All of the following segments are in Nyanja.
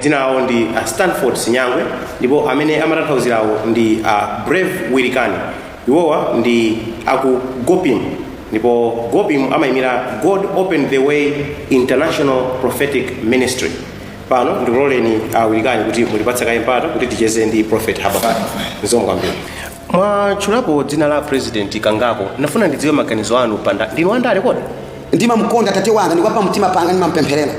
dzina lawo ndi a stanford sinyangwe ndipo amene amatanthauzirawo ndi a brave wilikani iwowa ndi aku gopim ndipo gopim amayimira god open the way international prophetic ministry pano ndiloleni a wilikani kuti mutipatse kaye mpata kuti ticheze ndi prophet habakuk zikomo kwambiri mwatchulapo dzina la president kangapo ndafuna ndidziwe maganizo anu pa ndale ndinu wandale kodi ndimamkonda tate wanga ndi wapamtima panga ndimampempherera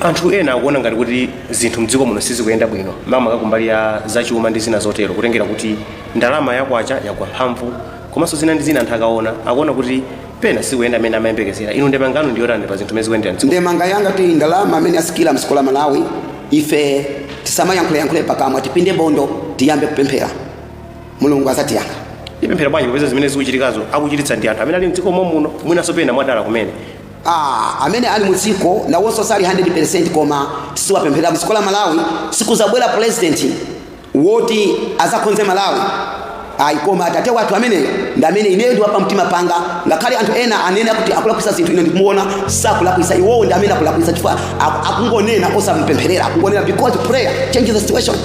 anthu ena akuona ngati kuti zinthu mdziko muno sizikuyenda bwino makamaka kumbali ya zachuma ndi zina zotero kutengera kuti ndalama yakwacha yagwa mphamvu komanso zina ndi zina anthu akaona akuona kuti pena sizikuyenda mmene amayembekezera inu ndemanga yanu ndiyotani pa zinthu mmene zikuyendera mdziko ndemanga yanga kuti ndalama mmene yasikira mdziko la malawi ife tisamayankhuleyankhule pakamwa tipinde bondo tiyambe kupemphera mulungu azatiyankha tipemphera bwanji popeza zimene zikuchitikazo akuchititsa ndi anthu amene ali mdziko momwemuno mwinanso pena mwadala kumene Aaa amene ali mudziko nawonso sali 100% koma tiziwapempherera mdziko la Malawi sikuzabwera president woti azakhonze Malawi ayi koma tate wathu ameneyo ndi amene ineyo ndi wapa mtima panga ngakhale anthu ena anene kuti akulakwisa zinthu ine ndikumuona sakulakwisa iwowo ndi amene akulakwisa chifukwa aku- akungonena osamupempherera akungonena because prayer changes the situation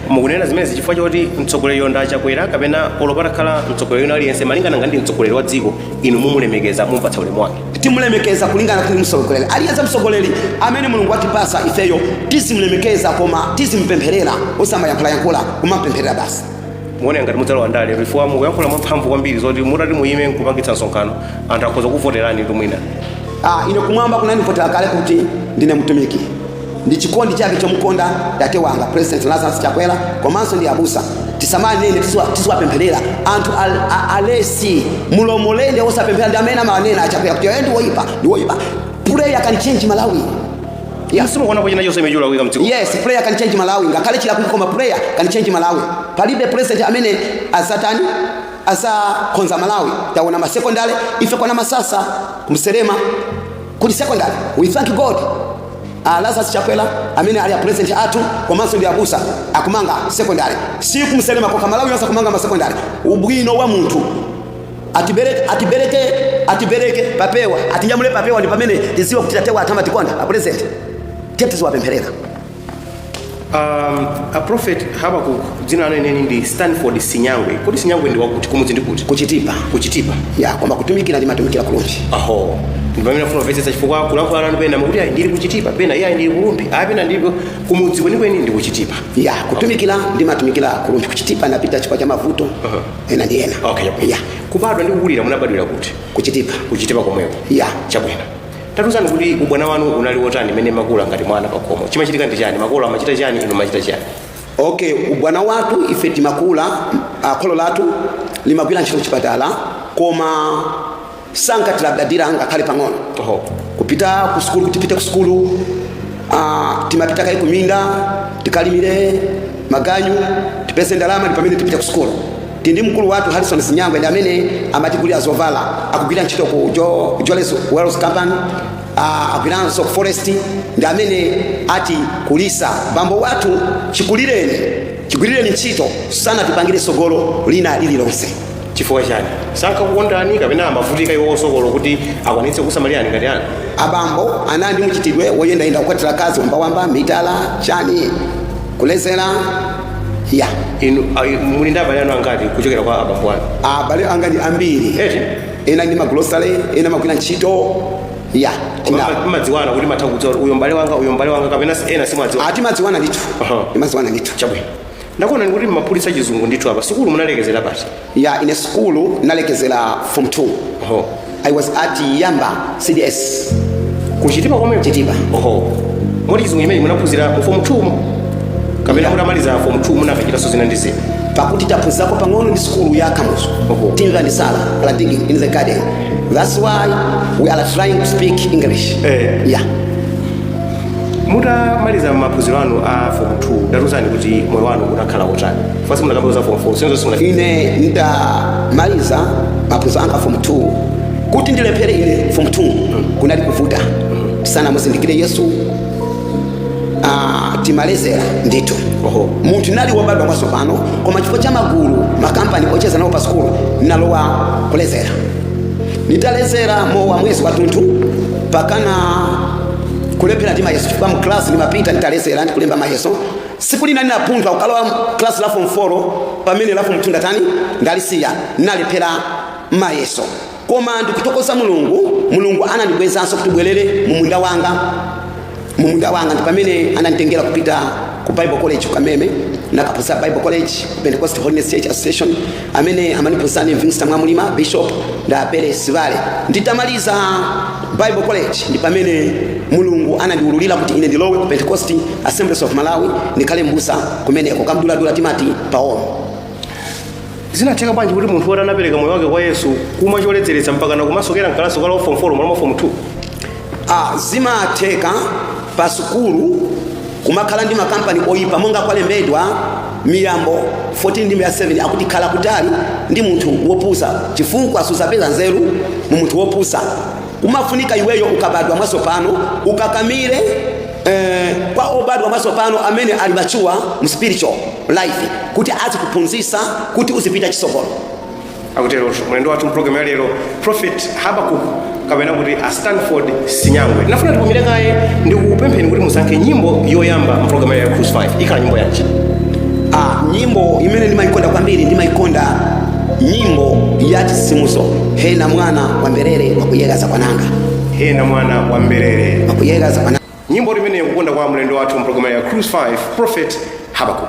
mukunena zimenezi chifukwa choti mtsogoleriyo ndi a chakwera kapena olo patakhala mtsogoleri wina aliyense malingana ngati ndi mtsogoleri wa dziko inu mumulemekeza mumpatsa ulemu wake timulemekeza kulingana kuti ndi mtsogoleri aliyense mtsogoleri amene mulungu watipasa ifeyo tizimulemekeza koma tizimpempherera osamayankhulayankhula kumampempherera basi mukuona ngati mudzalowa ndale chifukwa mukuyankhula mwamphamvu kwambiri zoti mutati muyime nkupangitsa msonkhano anthu akhoza kuvoteranitu mwina ah, ine kumwamba kunandivotera kale kuti ndine mtumiki ndi chikondi chabe chomukonda tate wanga president lazarus chakwera komanso ndi abusa tisamawanene tiziwa- tiziwapempherera anthu al- a- alesi mlomolende osapemphera ndi amene amawanena achakwera kuti ayi ndiwoyipa ndiwoyipa prayer can change malawi yes. simukuona kuti china chilichonse chimene chikulakwika mdziko yes prayer can change malawi ngakhale chilakwika koma prayer can change malawi palibe president amene azatani azakhonza malawi taona masekondale ife kwa namasasa kumselema kuli sekondale we thank god a Lazarus Chakwera amene ali a president athu komanso ndi abusa akumanga secondary si kumselema kokha Malawi yonse akumanga ma secondary ubwino wa munthu atibereke atibereke atibereke papewa atinyamule papewa ndi pamene tiziwa kuti tatewa ata amatikonda a president tate tiziwapempherera Um, a prophet Habakkuk dzina lanu lenileni ndi Stanford Sinyangwe. Kodi Sinyangwe ndi wakuti kumudzi ndi kuti? kuchitipa Kuchitipa. ya koma kutumikira ndimatumikira kulumbi Aho. Ndi pamene ndimafuna kumvetsetsa chifukwa kulankhula nanu pena mukuti ayi ndili kuchitipa pena eee ayi ndili kulumbi ayi pena ndili kumudzi kwenikweni ndi kuchitipa. ya kutumikira ndimatumikira kulumbi kuchitipa ndapita chifukwa cha mavuto Uh-huh. ena ndi ena Okay, chabwino. ya Kubadwa ndi kukulira munabadwira kuti? kuchitipa Kuchitipa komweko. ya Chabwino. tatuzani kuti ubwana wanu unali wotani mmene mumakula ngati mwana pakhomo chimachitika ndi chani makolo amachita chani inu mumachita chani okay ubwana wathu ife timakula ah, kholo lathu limagwira ntchito kuchipatala koma sankatilabadira ngakhale pang'ono Oho. kupita ku sukulu kuti tipite ku sukulu ah, timapita kaye kuminda tikalimire maganyu tipeze ndalama ndi pamene tipite ku sukulu Tili ndi mkulu wathu Harrison Sinyangwe ndi amene amatigulira zovala, akugwira ntchito ku Jo- Jolles Wells Company, ah, agwiranso ku Forest ndi amene atikulitsa bambo wathu chikulireni chigwirireni ntchito sanatipangire tsogolo lina lililonse. chifukwa chani sankakukondani kapena amavutika iwowo tsogolo kuti akwanitse kusamalirani ngati ana abambo anali ndi mchitidwe woyendayenda kukwatira akazi wambawamba mitala chani kulezera ya inu ah, inu muli ndi abale anu angati kuchokera kwa abambo anu abale anga ndi ambiri Eti? ena ndi magulosale ena amagwira ntchito ya Koma tina- mma- mmadziwana kuti mumatha kudziwa kuti uyo mbale wanga uyo mbale wanga kapena si- ena simwadziwa timadziwana ndithu Aha. timadziwana ndithu chabwino ndakuonani kuti mmaphulitsa chizungu ndithu apa sikulu munalekezera pati ya ine sukulu nalekezera form 2 oho i was at yamba cds kuchitipa komwe chitipa oho moti chizungu chimene munaphunzira mu form 2 mo kapena mutamaliza form 2 munakachitanso zina ndi zina pakuti taphunzako pang'ono ndi sukulu ya kamuzu Oho. timva ndi sala a digging in the garden that's why we are trying to speak english Eh. yeah mutamaliza maphunziro anu a form 2 tatuzani kuti moyo wanu unakhala wotani fasi munakamba za form 4 sinzo simuna ine nditamaliza maphunziro anga form 2 kuti ndilephere ine form 2 kunali kuvuta tisanamuzindikire yesu ah, timalezera ndithu Oho. munthu nali wobadwa mwatsopano koma chifukwa cha magulu makampani ocheza nawo pa sikulu nalowa kulezera nditalezera mowa mwezi watunthu mpakana kulephera ndi mayeso chifukwa mklasi ndimapita nditalezera ndikulemba mayeso Tsiku lina ndinapunthwa kukalowa class la form 4 pamene la form 2 ndatani ndalisiya ndinalephera mayeso koma ndikuthokoza mulungu mulungu anandibwezanso kuti ubwerere mu munda wanga mu munda wanga ndi pamene ananditengera kupita ku bible college kameme ndakaphunzira bible college pentecost holiness church association amene amandiphunzitsa ndi minista mwamulima bishop ndapele sivale nditamaliza bible college ndi pamene mulungu anandiwululira kuti ine ndilowe ku pentecost assemblies of malawi ndikhale mbusa kumeneko kam'dulamdula timati paolo zinatheka bwanji kuti munthu woti anapereka moyo wake kwa yesu kumwa choledzeretsa mpaka nakumasokera mkalasi ukalowa form 4 mwana wa form 2 Zimatheka pa sukulu kumakhala ndi makampani oyipa monga kwalembedwa Miyambo 14 ndime ya 7 akuti khala kutali ndi munthu wopusa chifukwa suzapeza nzeru mu munthu wopusa. Kumafunika iweyo ukabadwa mwatsopano ukakamire eh, kwa obadwa mwatsopano amene ali mature mu spiritual life kuti azikuphunzitsa kuti uzipita chisogolo. akutero mlendo wathu mpulogalamu ya lero prophet habakuk kapena kuti a stanford sinyangwe ndafuna tipumire kaye ndi kupempheni kuti musankhe nyimbo yoyamba mpulogalamu ya cruise 5 ikhala nyimbo yanji Ah, nyimbo imene ndimayikonda kwambiri ndimayikonda nyimbo ya chisimuso hena mwana wa mberere wakuyegha za kwananga hena mwana wa mberere wakuyegha za kwananga nyimbo imeneyo kukonda kwa mlendo wathu mpulogalamu ya cruise 5 prophet habakuk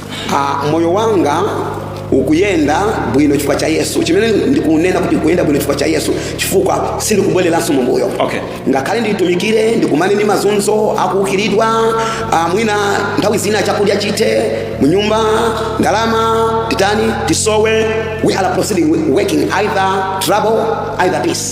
Ah, moyo wanga ukuyenda bwino chifukwa cha yesu chimene ndikunena kuti ukuyenda bwino chifukwa cha yesu chifukwa sindikubwereranso mumbuyo Okay. ngakhale nditumikire ndikumane ndi mazunzo akuukiridwa ah, mwina nthawi zina chakudya chithe munyumba ndalama titani tisowe we are proceeding working either trouble either peace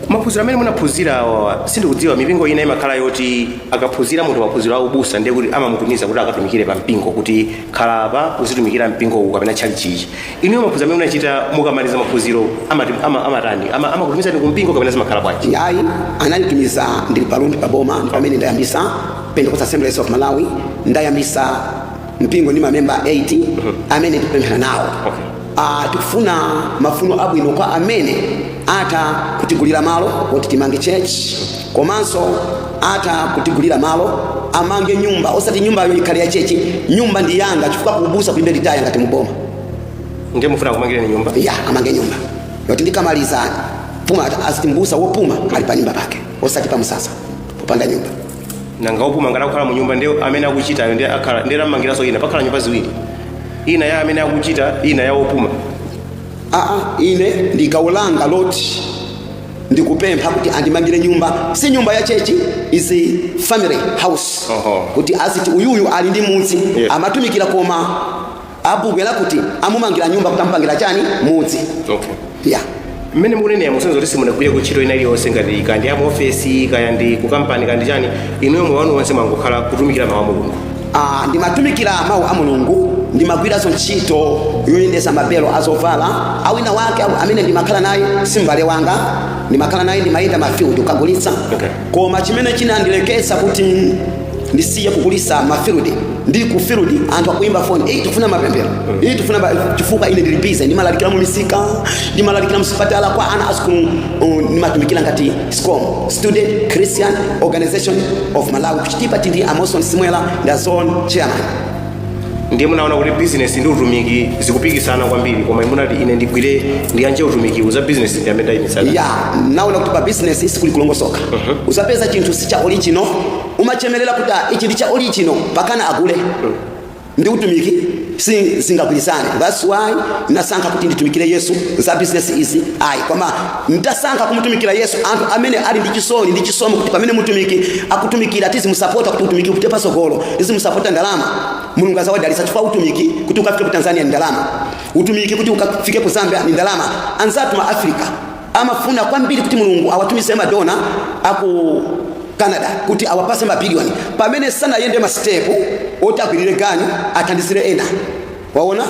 maphunziro amene munaphunzira awawa sindikudziwa mipingo ina imakhala yoti akaphunzira munthu maphunziro a ubusa ndiye kuti amamutumiza kuti akatumikire pa mpingo kuti khala apa uzitumikira mpingo uwu kapena tchalitchi ichi inuyo maphunziro amene munachita mukamaliza maphunziro amati- ama- amatani Ama- amakutumizani ku mpingo kapena zimakhala bwanji ayi ananditumiza ndili pa Lumphi pa boma ndi pamene ndayambisa pentecostal assemblies of malawi ndayambisa mpingo ndi mamemba 8 amene tikupemphera nawo Okay. Ah, tikufuna mafuno abwino kwa amene atha kutigulira malo kuti timange church komanso atha kutigulira malo amange nyumba osati nyumbayo ikhale ya chechi nyumba ndi yanga chifukwa kubusa kulibe litaya ngati muboma ndiye mufuna kumangireni nyumba ya amange nyumba yoti ndikamaliza puma aziti mbusa wopuma ali pa nyumba pake osati pa msasa popanda nyumba nanga opuma ngati akukhala mu nyumba ndi amene akuchitayo ndiye akhala ndiye amangiranso ina pakhala nyumba ziwiri ina ya amene akuchita ina ya opuma aa ine ndi gawo langa loti ndikupempha kuti andimangire nyumba si nyumba ya chechi is a family house Oho. kuti aziti uyuyu ali ndi mudzi Yes. amatumikira koma abwera kuti amumangira nyumba kuti amupangira chani mudzi okay ya mmene mukunenera musonyeza kuti simunagwire kuntchito ina iliyonse ngati kaya ndi ya muofesi kaya ndi kukampani kaya ndi chani inuyo moyo wanu wonse mwangokhala kutumikira mawu a mulungu Ah, ndimatumikira mawu a mulungu ndimagwiranso ntchito yoyendesa mabelo azovala awina wake awu- amene ndimakhala naye simbale wanga ndimakhala naye ndimayenda mafield kukagulitsa Okay. koma chimene chinandileketsa kuti ndisiye kugulitsa mafiludi ndili ku filudi anthu akuimba foni eyi tikufuna mapemphero eyi tikufuna ba- chifukwa ine ndili bize ndimalalikira mu misika ndimalalikira mu sipatala kwa ana asukulu uh, ndimatumikira ngati scom student christian organization of malawi kuchitipa tili ndi a Moson simwela nda zone chairman ndiye munaona kuti bizinesi ndi utumiki zikupikisana kwambiri koma munati ine ndigwire ndiyanje utumikiwu za bizinesi ndi amene ayimitsana ya naona kuti pa business sikuli kulongosoka uzapeza chinthu si cha original umachemerera kuti ah, ichi ndi cha original pakana agule ndi utumiki si zingagwirizane that's why nasankha kuti nditumikire yesu za business izi ayi koma N'tasankha kumutumikila Yesu, anthu amene ali ndi cisoni ndi cisomo kuti pamene mutumiki akutumikila tizimusapota kuti utumiki upite patsogolo, tizimusapota ndalama, Mulungu azawadalisa cifukwa utumiki kuti ukafike ku Tanzania ni ndalama, utumiki kuti ukafike ku Zambia ni ndalama. Anzathu ma Africa amafuna kwambiri kuti Mulungu awatumize madona aku Canada kuti awapase ma billion pamene sanayende ma step oti agwirire ganyu athandizire ena. Waona?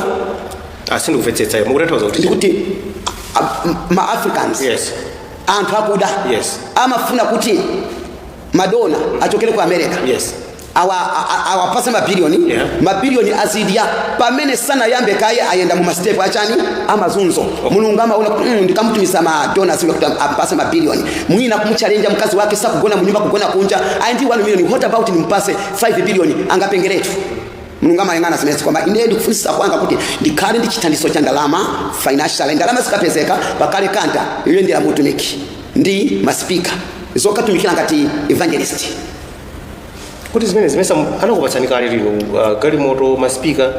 ah sindikumvetsetsa iwe mukutanthauza kuti ndikuti a- m- ma africans yes anthu akuda Yes. amafuna kuti madona achokere ku america yes awa a- a- awapase mabilioni Yeah. mabilioni azidya pamene sanayambe kaye ayenda mu masitepu achani amazunzo mulungu amaona kuti mm, ndikamutumiza madona zimwe kuti ampase mabilioni mwina kumuchalenja mkazi wake sakugona munyumba kugona kunja ayi ndi 1 million what about nimpase 5 billion angapengeretu mulungu amayang'ana zimenezi koma ine ndikufunitsitsa kwanga kuti ndikhale ndi chithandizo cha ndalama financial ndalama zikapezeka pakhale kanta yoyendera mutumiki ndi masipika zokatumikira ngati evangelist kuti zimene zimenezi sanakupatseni kale lino uh, galimoto masipika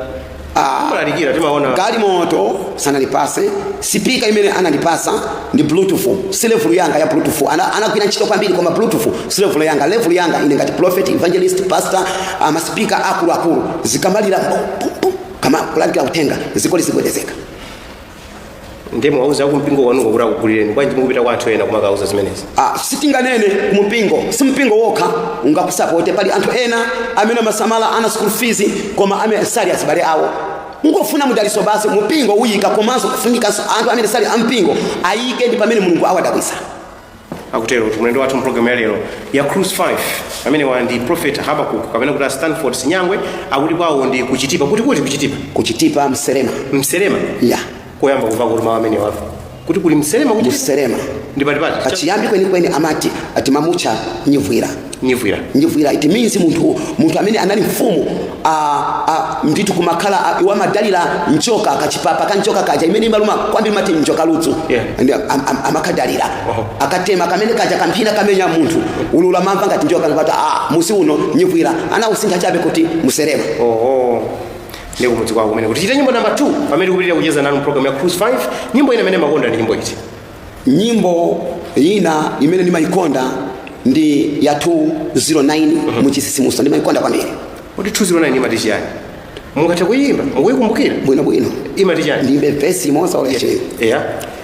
Ah. mmalalikira timaona galimoto sanandipase sipika imene anandipasa ndi bluetooth si level yanga ya bluetooth ana anagwira ntchito kwambiri koma bluetooth si level yanga level yanga ine ngati prophet evangelist pastor uh, ma speaker akulu akulu zikamalira pum, pum, pum, kumalalikira uthenga zikoli zigwedezeka ndiye osawauza ku mpingo wanuko kuti akugulireni bwanji mukupita kwa anthu ena kumakauza zimenezi Ah, sitinganene kumpingo si mpingo wokha ungakusapote pali anthu ena amene amasamala ana school fees koma amene sali azibale awo Kungofuna mudaliso basi mupingo uyika komanso kufunikanso anthu amene sali ampingo ayike ndi pamene mulungu awadabwisa. akuterotu mulendo wathu mpulogalamu ya lero ya cruise 5 amenewa ndi prophet habakuk kapena kuti a stanford sinyangwe akuti kwawo ndi kuchitipa kuti kuti kuchitipa Kuchitipa mselema. mselema Yeah. koyamba kumva kuti mawu amene apo kuti kuli mselema kuti mselema ndi patipati pachiyambi kwenikweni amati timamutcha nyivwira nyivwira nyivwira it means munthu munthu amene anali mfumu ah, ah, ndithu kumakhala ah, iwo amadalira njoka kachipapa ka njoka kaja imene imaluma kwambiri amati njoka ludzu Yeah. Ndi- am- am- amakadalira Oho. akatema kamene kaja kamphini kamenya munthu ululu amamva ngati njoka ngati ah mudzi uno nyivwira anawusintha chabe kuti mselema oho ndi kumudzi kwawo kumene kuti tichite nyimbo namba 2 pamene tikupitira kucheza nanu program ya cruise 5 nyimbo ina imene makonda ndi nyimbo iti nyimbo ina imene ndimayikonda ndi ya 209 muchitsitsimutso ndimayikonda kwambiri kuti 209 imati chiyani mungathe kuyimba mukuyikumbukira bwinobwino imati chiyani ndiyimbe vesi imodzi okay cheni eya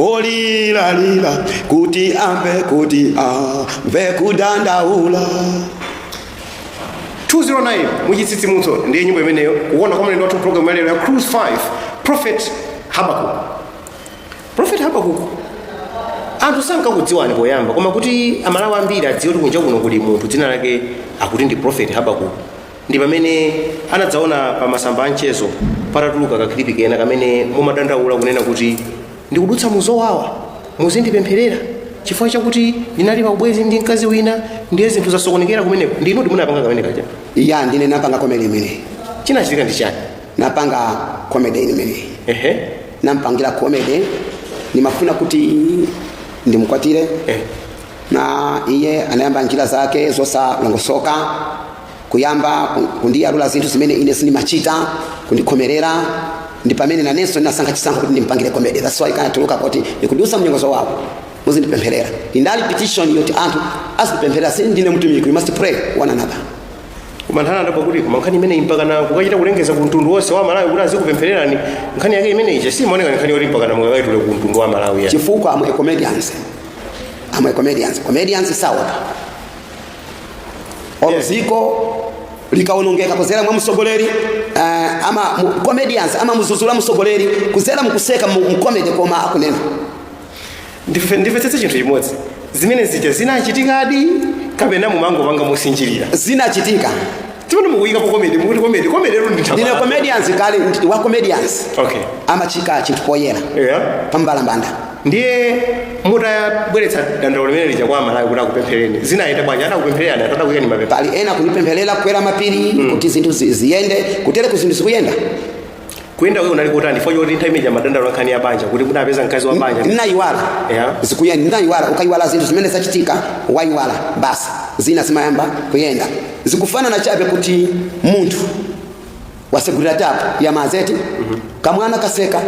olira lira kuti amve kuti amve kudandaula 209 muchitsitsimutso ndiye nyimbo imeneyo kukonda kwa mlendo wathu program yalero ya cruise 5 prophet habakuk prophet habakuk anthu sankakudziwani poyamba koma kuti amalawi ambiri adziwe kuti kunja kuno kuli munthu dzina lake akuti ndi prophet habakuk ndi pamene anadzaona pa masamba a mchezo patatuluka kakhilipi kena kamene mumadandaula kunena kuti ndikudutsa muzowawa muzindipempherera chifukwa chakuti ndinali pa ubwenzi ndi mkazi wina ndiye zinthu zasokonekera kumeneko ndinudi munapanga kamene kaja ya ndine napanga komedi imeneyi chinachitika ndi chani napanga komedi imeneyi ehe nampangira komedi ndimafuna kuti ndimkwatire eh. na iye anayamba njira zake zosalongosoka kuyamba ku- kundiyalula zinthu zimene ine sindimachita kundikhomerera ndi pamene nanenso ndinasankha chisankho kuti ndimpangire komedi that's why kanatuluka kuti ndikudusa mnyengo zowawa muzindipempherera inali petition yoti anthu azindipempherera si ndine mtumiki we must pray one another koma nthawi ndati kuti koma nkhani imeneyi mpakana kukachita kulengeza ku mtundu wonse wa malawi kuti azikupemphererani nkhani yake imeneyi ija simaoneka ndi nkhani yoti mpakana mukakaitule ku mtundu wa malawi yani chifukwa ama comedians ama comedians comedians saopa olo Yeah. dziko likawonongeka kuzera mwa msogoleri uh, ama mu, comedians amamuzuzula msogoleri kuzera mukuseka mu, mu comedy koma kunena ndi- ndimvetsetse chinthu chimodzi zimene zija zinachitikadi kapena mumangopanga mosinjirira zinachitika mmene mukuyika po komedi mukuti komedi komedi eyo ndine nditha comedians kale ndi- wa comedians okay amayika chinthu poyera yeah pambalambanda ndiye mutabweretsa dandaulo limene lija kwa amalawi kuti akupempherereni zinayenda bwanji atakupemphererani atata kuyeni mapepa pali ena kunipempherera kukwera mapiri kuti zinthu zi- ziyende kutereku zinthu zikuyenda kuyenda kwake kunali kutani chifukwa choti nthawi ija mumadandaula nkhani ya banja kuti munapeza mkazi wa banja ndinayiwala Yeah. zikuyenda ndinayiwala ukayiwala zinthu zimene zachitika wayiwala basi zina zimayamba kuyenda zikufanana chabe kuti munthu wasegulira tapu ya madzi eti kamwana kaseka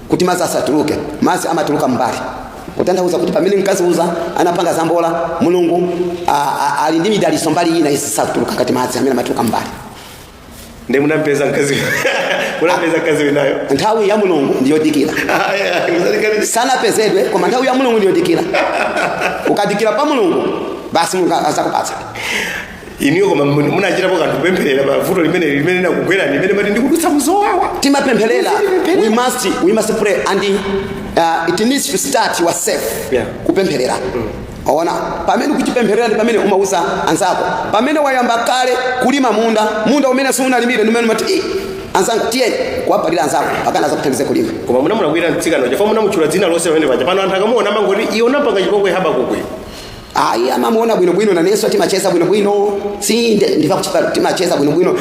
kuti mazi asatuluke mazi amatuluka mmbali kutanthauza kuti pamene mkazi uja anapanga zambola mulungu a- a- ali ndi midaliso mbali ina isatuluka ngati mazi amene amatuluka mmbali ndiye munampeza mkazi munampeza mkazi winayo nthawi ya mulungu ndiyodikira Ah, yeah, mzalekani- sanapezedwe koma nthawi ya mulungu ndiyodikira ukadikira pa mulungu basi mulungu azakupatsa inuyo koma mun- munachitapo kanthu kupempherera pa vuto limene limene linakugwerani limene mati ndikudutsa muzowawa timapempherera Timapempherera. we must we must pray and uh, it needs to start yourself Yeah. kupempherera waona pamene ukuzipempherera ndi pamene umauza anzako pamene wayamba kale kulima munda munda umene siunalimire ndi umene umati "Ih, anzanga tiyeni kukapalira anzako pakana azakuthandize kulima koma munamulakwira mtsikana uja chifukwa munamutchula dzina lonse pamene paja pano anthu akamuona amangoti iwo anampanga chipongwe habakuku ayi amamuona bwinobwino nanenso timacheza bwinobwino sinde ndikakuchita timacheza bwinobwino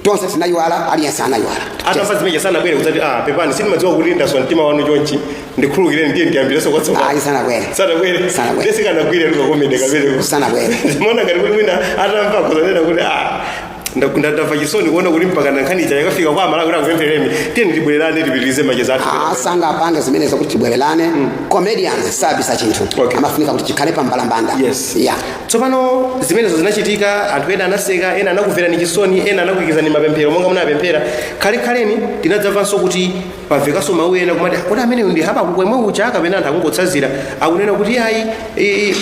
tonse tinayiwala aliyense anayiwala zatha zimezija sanabwere kudzati ah pepani sindimadziwa kuti ndaswa mtima wanu chonchi ndikhululukireni ndiye tiyambirenso kwatsopano ayi sanabwere sanabwere Sanabwere. ndesikanagwire lukakomende kabereko sanabwere ndimaona ngati kuti mwina atamva azanena kuti ah Nda- nda- ndamva chisoni kuona kuti mpaka nkhani ija yakafika kwa amalawi kuti akupempherereni tiyeni tibwererane tipitirize macheza athu sangapange zimenezo kuti tibwererane comedians sabisa chinthu Okay. amafunika kuti chikhale pa mbalambanda Yes. yeah. tsopano zimenezo zinachitika anthu ena anaseka ena anakumverani chisoni ena anakuikizani mapemphero monga munapemphera khalekhaleni tinadzamvanso kuti pamvekanso mawu ena kumati kodi ameneyu ndi habakuku yemwe uja kapena anthu akungotsanzira akunena kuti ayi i- i-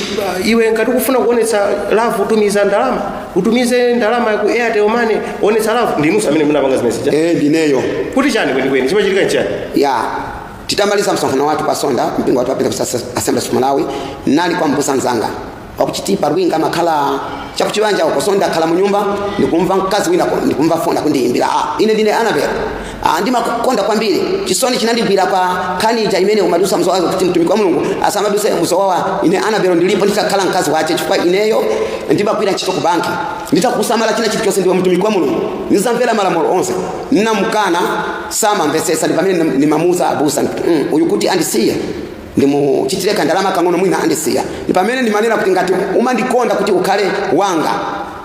iwe ngati ukufuna kuonetsa love tumiza ndalama utumize ndalama ku airtel money onetsa love ndinuso amene munapanga zimene zija eh ndineyo kuti chani kwenikweni chimachitika nchani ya titamaliza msonkhano wathu pa sonda mpingo wathu wa Pentecost Assembly of Malawi ndinali kwa mbusa nzanga wakuchitipa rwinga amakhala chakuchibanja uko so ndakhala munyumba ndikumva mkazi wina ku- ndikumva foni akundiyimbira ah, ine ndine anabel ah, ndimakukonda kwambiri chisoni chinandigwira pa nkhani ija imene umadusa mzowawa kuti mtumiki wa mulungu asamaduse mzowawa ine anabel ndilipo nditakhala mkazi wako chifukwa ineyo ndimagwira ntchito ku banki nditakusamala china chilichonse ndiwe mtumiki wa mulungu ndizamvera malamulo onse nnamukana samamvetsetsa ndi pamene ndimamuuza abusa mm, uyu kuti andisiye ndimuchitire kandalama kang'ono mwina andisiya ndipamene ndimanena kuti ngati umandikonda kuti ukhale wanga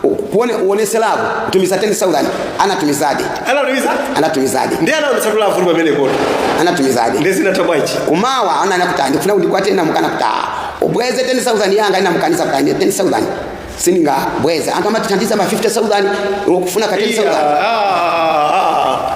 u- kuone uonese love utumize 10000 anatumizadi anatumiza anatumizadi ndiye anaonetsa love pamenepotu anatumizadi ndiye zinatha bwanji kumawa ananena kuti ndifuna ndikukwate nnamukana kuti ah, ubweze 10000 yanga nnamukaniza kuti ine 10000 siningabweze anthu amatithandiza ma 50000 ukufuna ka 10000 Iya, ah,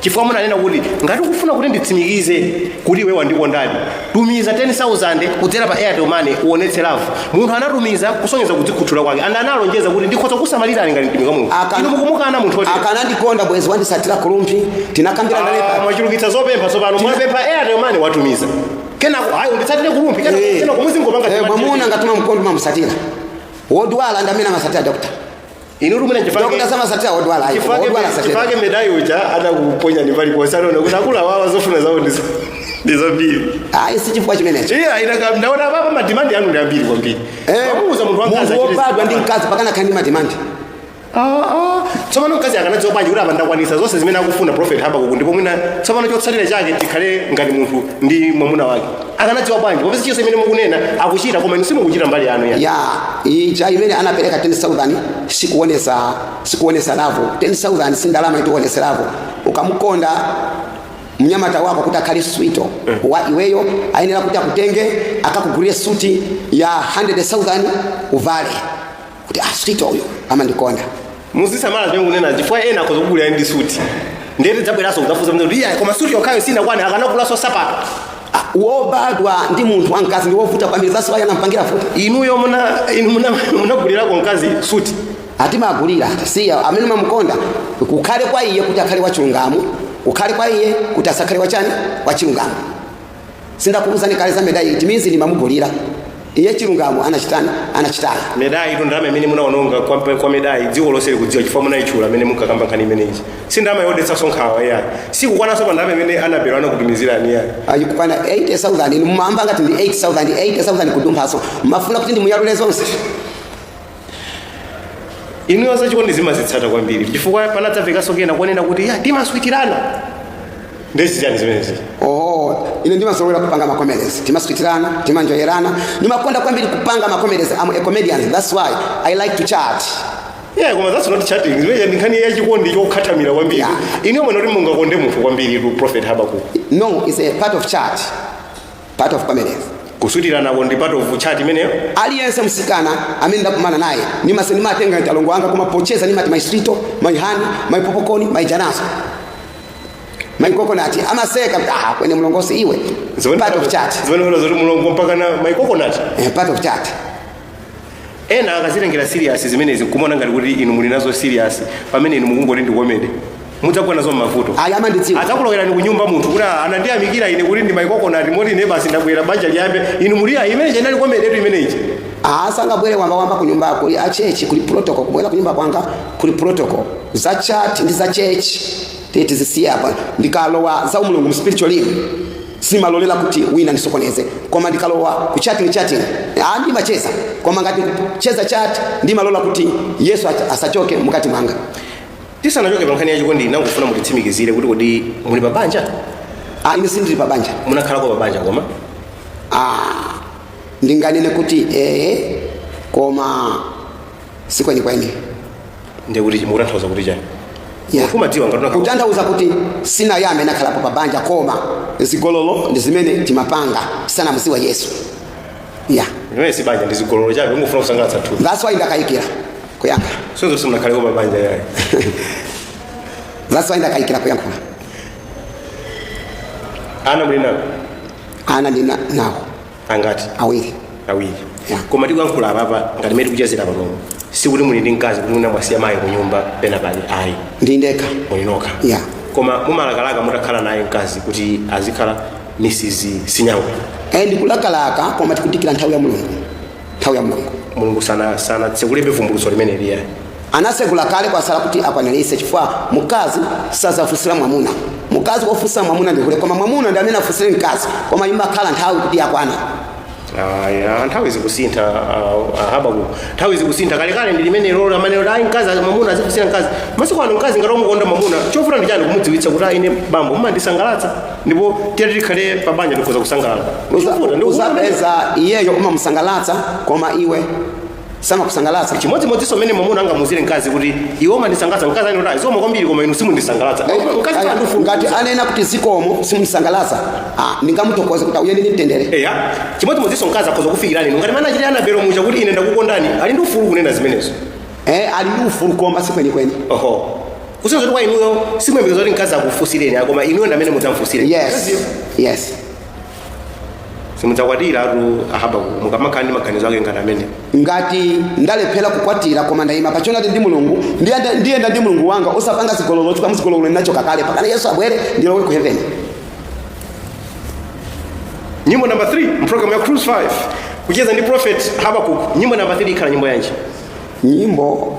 chifukwa munanena kuti ngati ukufuna kuti nditsimikize kuti iwe wandikondadi tumiza 10000 kudzera pa airtel money uonetse love munthu anatumiza kusonyeza kudzikhuthula kwake and analonjeza kuti ndikhoza kusamalirani ngati mtumiki wa mulungu Akana- inu mukumukana munthu wotere akanandikonda bwezi wanditsatira ku Rumphi tinakambira Ah, ndalepa mwachulukitsa zopempha tsopano mwapempha airtel money watumiza kenako ayi unditsatire ku Rumphi kenako Eh. kenako muzingopanga Eh, chipatire. mwamuna ngati umamukonda umamutsatira wodwala ndi amene amasatira dokota Inu rumene Dokota chifake samasatira odwala ayi. chifake Odwala asatira. chifake medai uja adakuponyani paliponse anaona kuti akuluwawa zofuna zawo ndi za ndi zambiri. Ayi si chifukwa chimenecho. Iya ina kam ndaona baba madimandi anu ndi ambiri kwambiri. Eh, Wamuuza munthu wamkazi munthu achite wobadwa ndi zinthu. mkazi mpakana akhale ndi madimandi. Ah, ah. Tsopano mkazi akanadziwa bwanji kuti apa ndakwanisa zonse zimene akufuna prophet Habakuku ndipo mwina tsopano chotsatira chake tikhale ngati munthu ndi mwamuna wake. akanadziwa bwanji popeza chilichonse chimene mukunena akuchita koma inu simukuchita mbali yanu ya ya ija imene anapereka 10000 sikuonesa sikuonesa love 10000 si ndalama yoti uonese love ukamukonda mnyamata wako kuti akhale sweet wa iweyo ayenera kuti akutenge akakugulire suti ya 100000 uvale kuti ah sweet uyu amandikonda muzisamala zimene mukunena chifukwa ena akhoza kugulirani ndi suti ndiye tidzabweranso kudzafunsa mzee kuti iya koma suti yokhayo sinakwana akanagulanso nsapato Ah, wobadwa ndi munthu wamkazi ndi wovuta kwambiri zaso ayi anampangira futi inuyo muna inu muna- munagulirako mkazi suti ah timagulira siya amene umamukonda kukhale kwa iye kuti akhale wachilungamo kukhale kwa iye kuti asakhale wachani wachilungamo sindakuuzani kale za medai it means ndimamugulira iye chilungamo anachitani anachitaya medai ito ndalama imene munaononga kwa, kwa medai dziko lonse likudziwa chifukwa munayitchula mmene munkakamba nkhani imeneyi si ndalama yodetsanso nkhawa iyayi sikukwananso pa ndalama imene Anabel anakutumizirani iyayi ayi ikukwana 80000 inu mumayamba ngati ndi 8000 80000 kudumphanso mumafuna kuti ndimuyalule zonse inuyo zachikondizi mumazitsata kwambiri chifukwa panadzamvekanso kena konena kuti ya timaswitirana nde zichani zimenezi oho ine ndimazolowera kupanga ma comedies timaswitirana timanjoyerana ndimakonda kwambiri kupanga ma comedies I'm a comedian that's why i like to chat yeah koma that's not chatting zimenezo ndi nkhani yachikondi chokhathamira kwambiri Yeah. inuyo mwene kuti mungakonde munthu kwambiritu prophet Habakuku no it's a part of chat part of pamenepo kuswitiranako ndi part of chat imeneyo aliyense msikana amene ndakumana naye nimase nimatenga ngati mlongo wanga koma pocheza nimati my sweet my honey my popcorn my janasa my coconut amaseka ah kweni mlongosi iwe part of chat zimenezo zoti mulongo mpaka na my coconut eh, part of chat ena akazitengera serious zimenezi nkumaona ngati kuti inu muli nazo serious pamene inu mukungoti ndi comedy mudzagwa nazo m'mavuto ayi amandidziwa adzakulowerani kunyumba munthu kuti "Ah, anandiyamikira ine kuti ndimayikokonati moti ine basi ndabwera banja liyambe inu muli ayi imene ija inali comedytu imene ija asangabwere wamba wamba ku nyumba kuli a chechi kuli protocol kubwera ku nyumba kwanga kuli protocol za chat ndi za chechi titazisiya apa ndikalowa za umulungu mu spiritual life simalolela kuti wina ndisokoneze koma ndikalowa ku chatting chatting ah ndimacheza koma ngati kucheza chat ndimalola kuti yesu ach- asachoke mukati mwanga tisanachoke pa nkhani ya chikondi ndimangofuna mutitsimikizire kuti kodi muli pa banja ah ine sindili pa banja munakhalako pa banja koma ah ndinganene kuti eh koma sikwenikweni ndiye kuti mukutanthauza kuti chani Ya. kumadziwa ngati unakhala- kutanthauza kuti sindinayambe ndakhalapo pa banja koma zigololo ndi zimene timapanga tisanamudziwe yesu ya Imeneyi si banja ndi zigololo chabe kungofuna kusangalatsa thupi that's why ndakayikira kuyankha so simunakhaleko pa banja yayi that's why ndakayikira kuyankhula ana muli nawo ana ndili nawo angati awiri awiri Yeah. koma tikuyankhula apapa ngati mmene tikuchezera panopo sikuti muli ndi mkazi kuti mwina mwasiya mayi kunyumba pena pali ayi ndi ndekha muli nokha Yeah. koma mumalakalaka mutakhala naye mkazi kuti azikhala mrs sinyango Eh, ndikulakalaka koma tikudikira nthawi ya mulungu nthawi ya mulungu mulungu sana sanatsegulebe vumbulutso limeneli ya Anatsegula kale kwasala kuti akwanilitse chifukwa mkazi sazafunsira mwamuna. Mkazi ofunsira mwamuna ndi hule koma mwamuna ndi amene afunsire mkazi koma imakhala nthawi kuti yakwana. Aya, nthawi zikusintha uh, uh, Habakuk nthawi zikusintha kalekale ndi limene lija amanena ayi mkazi mwamuna azifunsira mkazi masiku ano mkazi ngati wamukonda mwamuna chovuta ndi chani kumudziwitsa kuti ayi ine bambo mumandisangalatsa ndipo titati tikhale pa banja tikhoza kusangalala Uza- Chovuta ndi kuona- uzapeza iyeyo umamusangalatsa koma iwe samakusangalatsa chimodzimodzinso mmene mwamuna angamuuzire mkazi kuti iwe umandisangalatsa mkazi anena kuti zikomo kwambiri koma inu simundisangalatsa mkazi Aya, sandifu- ngati anena kuti zikomo simundisangalatsa ah, ndingamuthokoze kuti uyende ndi mtendere eya chimodzimodzinso mkazi akhoza kufikira inu ngati mmene anachitira Anabelo muja kuti ine ndakukondani ali ndi ufulu kunena zimenezo eh, ali ndi ufulu koma sikwenikweni oho kusonyeza kuti kwa inuyo simuyembekezera kuti mkazi akufunsireni koma inuyo ndamene mudzamfunsire yes yes simudzakwatiratu a Haba mukamakhala ndi maganizo ake ngati amenewo ngati ndalephera kukwatira koma ndayima pa choonadi ndi mulungu ndiyenda ndiyenda ndi mulungu wanga osapanga zigololo chifukwa muzigololo ndinachoka kale mpakana yesu abwere ndilowe ku heaven nyimbo namba 3 mprogramu ya cruise 5 kucheza ndi prophet habakuk nyimbo namba 3 ikhala nyimbo yanji nyimbo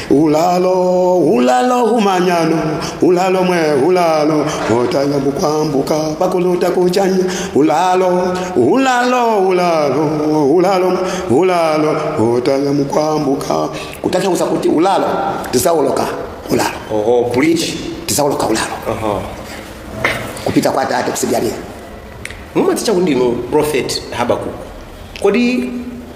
ulalo ulalo humanyano ulalo mwe ulalo twamkwambuka pakuluta kuchanya ulalo ulalo ulalo ulalo ulalo twamkwambuka kutanthauza kuti ulalo tidzaoloka ulalo oho bridge tidzaoloka ulalo aha kupita kwa tate kutsidyalija mumadzitcha kuti ndinu prophet habakuku kodi